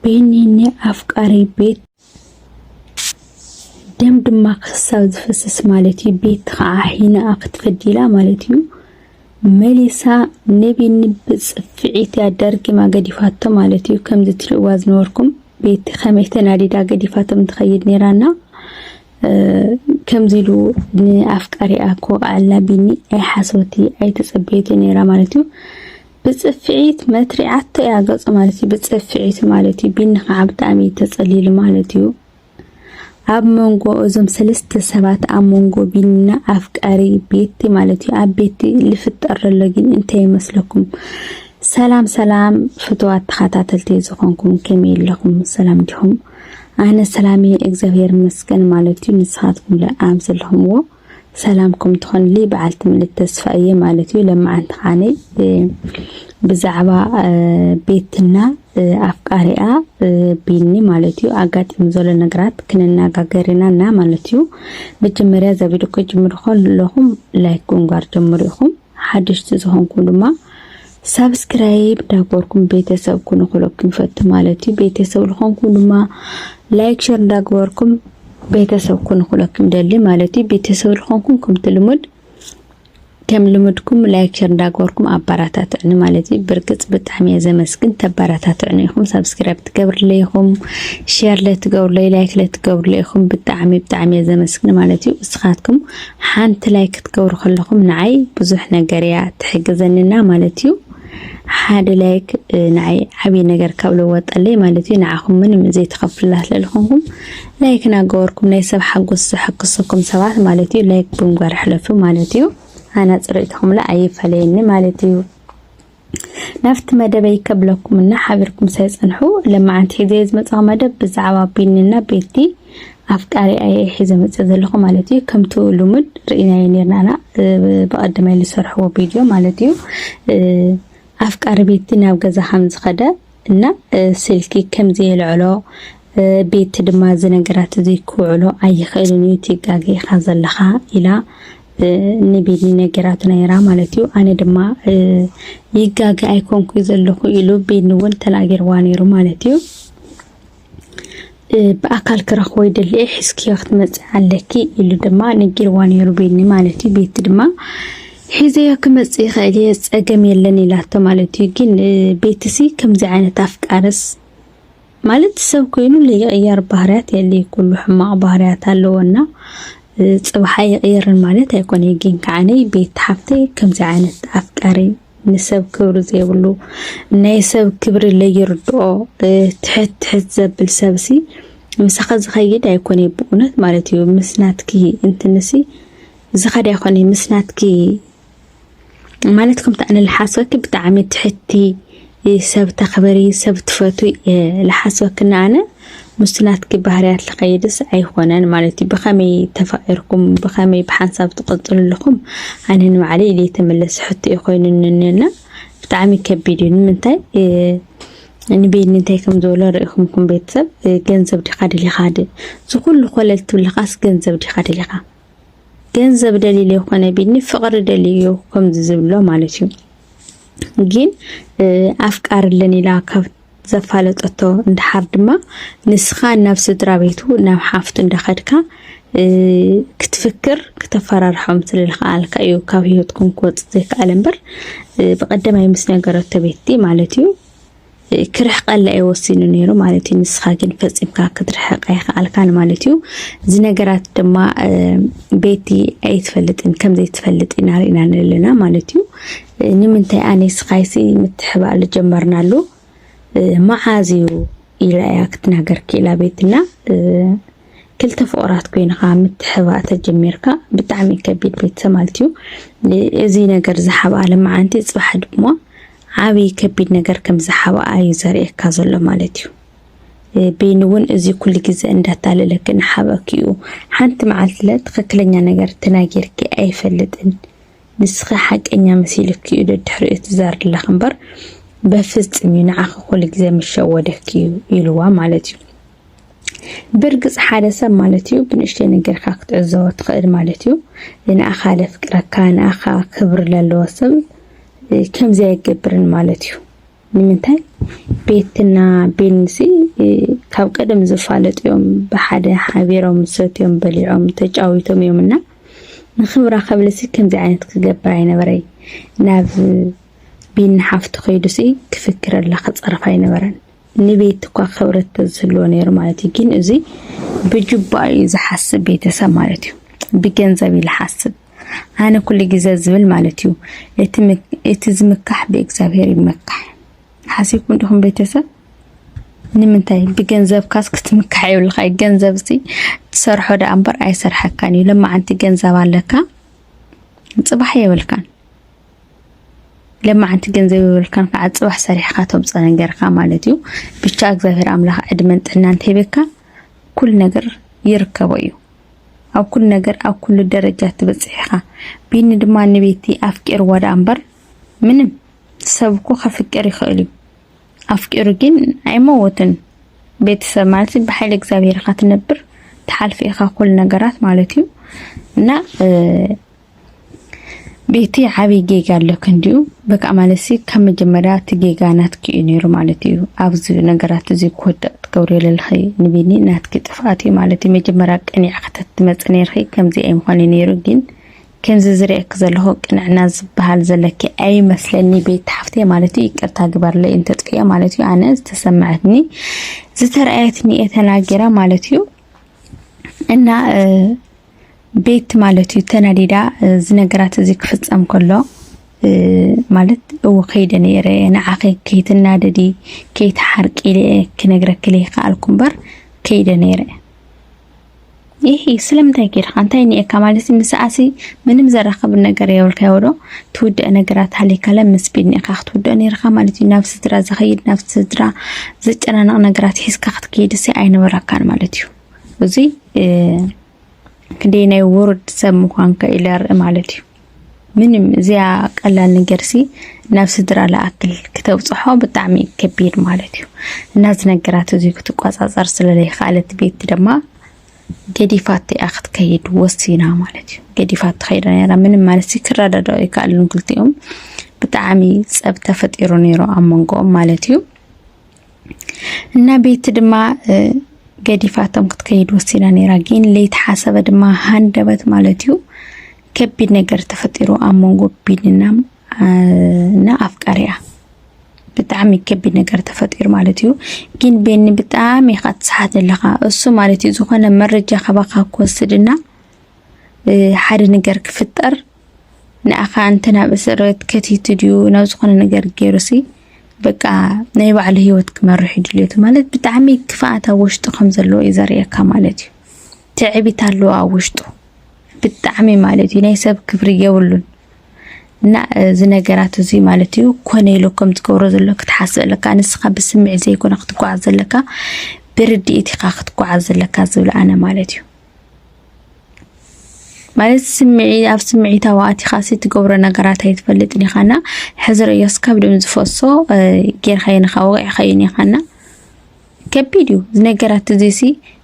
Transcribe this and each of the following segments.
ቤኒኒ ኣፍቃሪ ቤት ደም ድማ ክሳብ ዝፈስስ ማለት እዩ ቤት ከዓ ሒናኣ ክትፈዲላ ማለት እዩ መሊሳ ንቤኒ ብፅፍዒት እያ ደርጊማ ገዲፋቶ ማለት እዩ ከምዚ ትሪእዋ ዝነበርኩም ቤቲ ከመይ ተናዲዳ ገዲፋቶም ትኸይድ ነይራና ከምዚ ኢሉ ንኣፍቃሪኣ ክወቕዓልና ቢኒ ኣይሓሰወቲ ኣይተፀበየቲ ነይራ ማለት እዩ ብጽፍዒት መትሪዓቶ እያ ገጹ ማለት እዩ ብጽፍዒት ማለት እዩ ቢንኻዓ ብጣዕሚ ተጸሊሉ ማለት እዩ ኣብ መንጎ እዞም ሰለስተ ሰባት ኣብ መንጎ ቢና ኣፍቃሪ ቤቲ ማለት እዩ ኣብ ቤቲ ልፍጠር ዘሎ ግን እንታይ ይመስለኩም ሰላም ሰላም ፍትዋት ተኸታተልቲ ዝኾንኩም ከመይ ኣለኹም ሰላም ዲኹም ኣነ ሰላም እየ እግዚኣብሔር ይመስገን ማለት እዩ ንስኻትኩም ኣብ ዘለኹምዎ ሰላምኩም ትኹንልይ በዓልቲ ምልእቲ ተስፋ እየ ማለት እዩ ለማዓንቲ ኻዓነይ ብዛዕባ ቤትና ኣፍቃሪኣ ቢኒ ማለት እዩ ኣጋጢሙ ዘሎ ነገራት ክንነጋገር ኢና እና ማለት እዩ መጀመርያ እዛ ቪድዮ ከጅምሩ ከለኹም ላይክ ጉንጓር ጀምሩ ኢኹም ሓደሽቲ ዝኾንኩም ድማ ሳብስክራይብ እንዳገበርኩም ቤተሰብ ኩኑ ክለኩም ይፈቱ ማለት እዩ። ቤተሰብ ዝኾንኩም ድማ ላይክ ሸር እንዳገበርኩም ቤተሰብ ኩኑ ክለኩም ይደሊ ማለት እዩ። ቤተሰብ ዝኾንኩም ከምቲ ልሙድ ከም ልምድኩም ላይክ ሸር እንዳገበርኩም ኣበረታትዕኒ ማለት እዩ። ብርግጽ ብጣዕሚ እየ ዘመስግን ተበረታትዕኒ ኢኹም፣ ሳብስክራይብ ትገብርለይ ኢኹም፣ ሸር ለትገብርለይ ላይክ ለትገብርለይ ኢኹም ብጣዕሚ ብጣዕሚ እየ ዘመስግን ማለት እዩ። እስኻትኩም ሓንቲ ላይክ ክትገብሩ ከለኹም ንዓይ ብዙሕ ነገር እያ ትሕግዘኒና ማለት እዩ። ሓደ ላይክ ንዓይ ዓብዪ ነገር ካብ ለወጠለይ ማለት እዩ። ንዓኹም ምንም ዘይተኸፍላ ስለዝኾንኩም ላይክ እናገበርኩም ናይ ሰብ ሓጎስ ዘሐግሰኩም ሰባት ማለት እዩ ላይክ ብምግባር ሕለፉ ማለት እዩ። ኣና ፅርኢትኹምላ ኣይፈለየኒ ማለት እዩ። ናብቲ መደበይ ከብለኩም እና ሓቢርኩም ስለ ጸንሑ ለማዓንቲ ሒዘ ዝመጻኹ መደብ ብዛዕባ ቢኒና ቤቲ ኣፍቃሪ ኣየ ሒዘ መጸ ዘለኹ ማለት እዩ ከምቲ ልሙድ ርኢናዮ ነርናና ብቐደማይ ዝሰርሕዎ ቪድዮ ማለት እዩ ኣፍቃሪ ቤቲ ናብ ገዛ ከም ዝኸደ እና ስልኪ ከምዘየልዕሎ ቤቲ ድማ እዚ ነገራት እዚ ክውዕሎ ኣይኽእልን እዩ እቲ ጋገ ኢኻ ዘለኻ ኢላ ንቤኒ ነገራቱ ነይራ ማለት እዩ ኣነ ድማ ይጋገ ኣይኮንኩ ዘለኹ ኢሉ ቤኒ እውን ተናጊርዋ ነይሩ ማለት እዩ ብኣካል ክረኽቦ ይደሊ እየ ሕዝክዮ ክትመፂ ኣለኪ ኢሉ ድማ ነጊርዋ ነይሩ ቤኒ ማለት እዩ ቤቲ ድማ ሒዘዮ ክመፅ ይኽእል እየ ፀገም የለን ኢላቶ ማለት እዩ ግን ቤትሲ ከምዚ ዓይነት ኣፍቃርስ ማለት ሰብ ኮይኑ ለይቕያር ባህርያት የለይ ኩሉ ሕማቕ ባህርያት ኣለዎና ፅባሕ ኣይቕየርን ማለት ኣይኮነ ግን ከዓነይ ቤት ሓፍተይ ከምዚ ዓይነት ኣፍቃሪ ንሰብ ክብሪ ዘይብሉ ናይ ሰብ ክብሪ ለይርድኦ ትሕት ትሕት ዘብል ሰብሲ ምሳኻ ዝኸይድ ኣይኮነ ብእውነት ማለት እዩ ምስ ናትኪ እንትንሲ ዝኸድ ኣይኮነ ምስ ናትኪ ማለት ከምቲ ኣነ ልሓስበኪ ብጣዕሚ ትሕቲ ሰብ ተኽበሪ ሰብ ትፈትዊ ልሓስበክና ኣነ ምስቲ ናትኪ ባህርያት ልኸይድስ ኣይኾነን ማለት እዩ ብኸመይ ተፋቂርኩም ብኸመይ ብሓንሳብ ትቕፅሉ ኣለኹም ኣነ ንባዕለይ ኢለይ ተመለሲ ሕቶ እዩ ኮይኑንና ብጣዕሚ ከቢድ እዩ ንምንታይ ንቤኒ እንታይ ከም ዝበሎ ርኢኹምኩም ቤተሰብ ገንዘብ ዲኻ ደሊኻ ድ ዝኹሉ ኮለል ትብልኻስ ገንዘብ ዲኻ ደሊኻ ገንዘብ ደሊለ ይኾነ ቤኒ ፍቕሪ ደልዩ ከምዚ ዝብሎ ማለት እዩ ግን ኣፍቃርለን ኢላ ካብ ዘፋለጠቶ እንድሓር ድማ ንስኻ ናብ ስድራ ቤቱ ናብ ሓፍቱ እንዳኸድካ ክትፍክር ክተፈራርሖም ስለልኸኣልካ እዩ ካብ ህይወትኩም ክወፅ ዘይከኣለ እምበር ብቀደማይ ምስ ነገረቶ ቤቲ ማለት እዩ ክርሕቀላ እዩ ወሲኑ ነይሩ ማለት እዩ ንስኻ ግን ፈፂምካ ክትርሕቅ ኣይከኣልካን ማለት እዩ እዚ ነገራት ድማ ቤቲ ኣይትፈልጥን ከምዘይትፈልጥ ኢና ርኢና ኣለና ማለት እዩ ንምንታይ ኣነይ ስቃይሲ ምትሕባእሉ ጀመርናሉ መዓዝ እዩ ኢላ እያ ክትናገር ክኢላ ቤትና ክልተ ፍቕራት ኮይንኻ ምትሕባእ ተጀሚርካ ብጣዕሚ ከቢድ ቤተሰብ ማለት እዩ እዚ ነገር ዝሓብኣ ልመዓንቲ ፅባሕ ድማ ዓብዪ ከቢድ ነገር ከም ዝሓብኣ እዩ ዘርእየካ ዘሎ ማለት እዩ ቤኒ እውን እዚ ኩሉ ግዜ እንዳታለለኪ ንሓበኪ እዩ ሓንቲ መዓልትለ ትኽክለኛ ነገር ተናጊርኪ ኣይፈልጥን ንስኺ ሓቀኛ መሲሉኪ እዩ ደድሕሪኡ ትዛርለኺ እምበር በፍጽም እዩ ንዓኺ ኩሉ ግዜ ምስ ሸወደኪ እዩ ኢልዋ ማለት እዩ። ብርግጽ ሓደ ሰብ ማለት እዩ ብንእሽተይ ነገር ካብ ክትዕዘቦ ትኽእል ማለት እዩ። ንኣኻ ለፍቅረካ ንኣኻ ክብሪ ለለዎ ሰብ ከም ዘየገብርን ማለት እዩ። ንምንታይ ቤትና ቤንሲ ካብ ቀደም ዝፋለጡ እዮም ብሓደ ሓቢሮም ሰትዮም በሊዖም ተጫዊቶም እዮም እና ንክብራ ከብልሲ ከምዚ ዓይነት ክገብር ኣይነበረይ ናብ ቢን ሓፍቱ ከይዱሲ ክፍክረላ ክፀርፍ ኣይነበረን ንቤት እኳ ክብረት ተዝህልዎ ነይሩ ማለት እዩ ግን እዚ ብጅባ እዩ ዝሓስብ ቤተሰብ ማለት እዩ ብገንዘብ እዩ ዝሓስብ ኣነ ኩሉ ግዘ ዝብል ማለት እዩ እቲ ዝምካሕ ብእግዚኣብሔር ይመካሕ ሓሲብኩም ዲኹም ቤተሰብ ንምንታይ ብገንዘብካስ ክትምካሕ የብልካ እዩ ገንዘብ ሲ ትሰርሖ ደኣ እምበር ኣይሰርሐካን እዩ ለማዓንቲ ገንዘብ ኣለካ ፅባሕ የብልካን ለማዓንቲ ገንዘብ የብልካን ከዓ ፅባሕ ሰሪሕካ ተምፀ ነገርካ ማለት እዩ ብቻ እግዚኣብሔር ኣምላኽ ዕድመን ጥዕናን ሂብካ ኩል ነገር ይርከቦ እዩ ኣብ ኩሉ ነገር ኣብ ኩሉ ደረጃ ትበጽሕ ኢኻ። ቢኒ ድማ ንቤቲ ኣፍቂርዋ ደኣ እምበር ምንም ሰብ እኮ ከፍቅር ይኽእል እዩ። ኣፍቂሩ ግን ኣይመወትን። ቤተሰብ ማለት ብሓይሊ እግዚኣብሔር ኢኻ ትነብር ትሓልፊ ኢኻ ኩሉ ነገራት ማለት እዩ እና ቤቲ ዓብይ ጌጋ ኣለኪ እንዲዩ በቃ ማለትሲ ካብ መጀመርያ እቲ ጌጋ ናትኪ እዩ ነይሩ ማለት እዩ ኣብዚ ነገራት እዚ ክወድቅ ትገብርዮ ዘለኺ ንቢኒ ናትኪ ጥፍኣት እዩ ማለት እዩ መጀመርያ ቀኒዕ ከተትመፅ ነይርኺ ከምዚ ኣይምኾነ ነይሩ ግን ከምዚ ዝርእየኪ ዘለኹ ቅንዕና ዝበሃል ዘለኪ ኣይመስለኒ ቤት ሓፍተይ ማለት እዩ ይቅርታ ግበርለይ እንተጥፍኤ ማለት እዩ ኣነ ዝተሰማዐትኒ ዝተረኣየትኒ እየ ተናጊራ ማለት እዩ እና ቤት ማለት እዩ ተናዲዳ ዝነገራት እዚ ክፍፀም ከሎ ማለት እው ከይደ ነይረ ንዓኺ ከይትናደዲ ከይትሓርቂ ክነግረኪ ዘይከኣልኩ እምበር ከይደ ነይረ ይህ ስለምንታይ ከድካ እንታይ ኒኤካ ማለት ምስኣሲ ምንም ዘራኸብ ነገር የብልካዮ ዶ ትውድእ ነገራት ሃሊካለ ምስ ቢድ ኒኤካ ክትውድኦ ነይርካ ማለት እዩ ናብ ስድራ ዘኸይድ ናብ ስድራ ዘጨናንቕ ነገራት ሒዝካ ክትከይድሲ ኣይነበረካን ማለት እዩ እዚ ክንደይ ናይ ውርድ ሰብ ምዃንካ ኢለ ርኢ ማለት እዩ ምንም እዚያ ቀላል ነገርሲ ናብ ስድራ ለኣክል ክተብፅሖ ብጣዕሚ ከቢድ ማለት እዩ እና እዚ ነገራት እዚ ክትቆፃፀር ስለዘይከኣለት ቤት ድማ ገዲፋት እያ ክትከይድ ወሲና ማለት እዩ ገዲፋት ትኸይድ ነራ ምንም ማለት ክረዳዳኡ ይከኣሉን ክልቲኦም ብጣዕሚ ፀብ ተፈጢሩ ነይሩ ኣብ መንጎኦም ማለት እዩ እና ቤቲ ድማ ገዲፋቶም ክትከይድ ወሲና ነይራ። ግን ለይተሓሰበ ድማ ሃንደበት ማለት እዩ ከቢድ ነገር ተፈጢሩ ኣብ መንጎ ቢኒና እና ኣፍቃሪያ ብጣዕሚ ከቢድ ነገር ተፈጢሩ ማለት እዩ። ግን ቤኒ ብጣዕሚ ኢኻ ትስሓት ኣለኻ እሱ ማለት እዩ ዝኾነ መረጃ ካባኻ ክወስድና ሓደ ነገር ክፍጠር ንኣኻ እንተ ናብ እስርቤት ከቲቱ ድዩ ናብ ዝኾነ ነገር ገይሩሲ በቃ ናይ ባዕሉ ህይወት ክመርሕ እዩ ድልየቱ ማለት ብጣዕሚ ክፍኣት ኣብ ውሽጡ ከም ዘለዎ እዩ ዘርእየካ ማለት እዩ። ትዕቢት ኣለዎ ኣብ ውሽጡ ብጣዕሚ ማለት እዩ። ናይ ሰብ ክብሪ የብሉን እና እዚ ነገራት እዚ ማለት እዩ ኮነ ኢሎ ከም ትገብሮ ዘሎ ክትሓስብ ኣለካ። ንስኻ ብስምዒት ዘይኮነ ክትጓዓዝ ዘለካ ብርድኢት ኢኻ ክትጓዓዝ ዘለካ ዝብል ኣነ ማለት እዩ። ማለት ስምዒ ኣብ ስምዒታዊ ኣቲኻ ትገብሮ ነገራት ኣይትፈልጥን ኢኻ እና ሕዚ ርእዮስ ካብ ድም ዝፈሶ ጌርካዮን ኢኻ ወቂዕካዮን ኢኻ እና ከቢድ እዩ ነገራት እዚሲ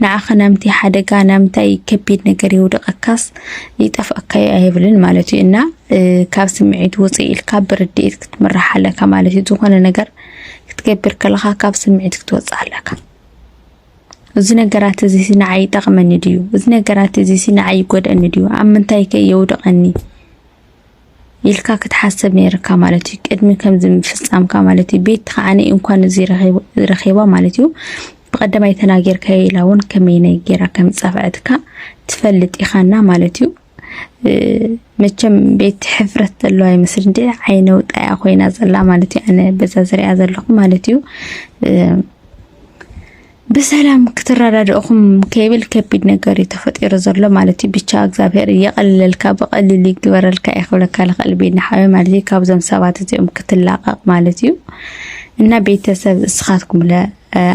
ንዓኸ ናምቲ ሓደጋ ናምታይ ከቢድ ነገር ይውድቐካስ ይጠፍኣካዩ ኣይብልን ማለት እዩ እና ካብ ስምዒት ውፅ ኢልካ ብርድኢት ክትምራሕ ኣለካ ማለት እዩ ዝኾነ ነገር ክትገብር ከለኻ ካብ ስምዒት ክትወፅእ ኣለካ እዚ ነገራት እዚ ንዓይ ይጠቕመኒ ድዩ? እዚ ነገራት እዚ ንዓይ ይጎድኣኒ ድዩ? ኣብ ምንታይ ከ የውድቐኒ? ኢልካ ክትሓስብ ነይርካ ማለት እዩ ቅድሚ ከምዚ ምፍጻምካ ማለት እዩ ቤት ከዓ እንኳን እዚ ረኺባ ማለት እዩ ብቐደማይ ተናጊርካዮ ኢላ እውን ከመይ ነጊራ ከም ዝጸፍዐትካ ትፈልጥ ኢኻና ማለት እዩ መቸም ቤት ሕፍረት ዘለዎ ኣይመስል እንደ ዓይነ ውጣያ ኮይና ዘላ ማለት እዩ ኣነ በዛ ዝሪኣ ዘለኹ ማለት እዩ ብሰላም ክትረዳድእኹም ከይብል ከቢድ ነገር እዩ ተፈጢሩ ዘሎ ማለት እዩ ብቻ እግዚኣብሔር እየቀልለልካ ብቀሊል ይግበረልካ እየ ክብለካ ልኽእል ቤና ሓወ ማለት እዩ ካብዞም ሰባት እዚኦም ክትላቀቅ ማለት እዩ እና ቤተሰብ እስኻትኩም ለ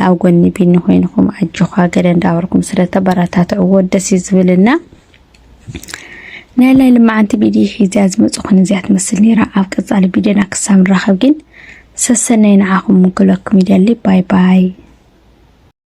ኣብ ጎኒ ቢኒ ኮይንኹም ኣጆኻ ገለ እንዳበርኩም ስለተበረታትዕዎ ደስ እዩ ዝብልና ናይ ላይሊ መዓንቲ ቢዲ ሒዚያ ዝመጽኹን እዚኣ ትመስል ነይራ። ኣብ ቀጻሊ ቢድዮና ክሳብ ንራኸብ ግን ሰሰነይ ንዓኹም ምክለኩም ይደሊ ባይ ባይ።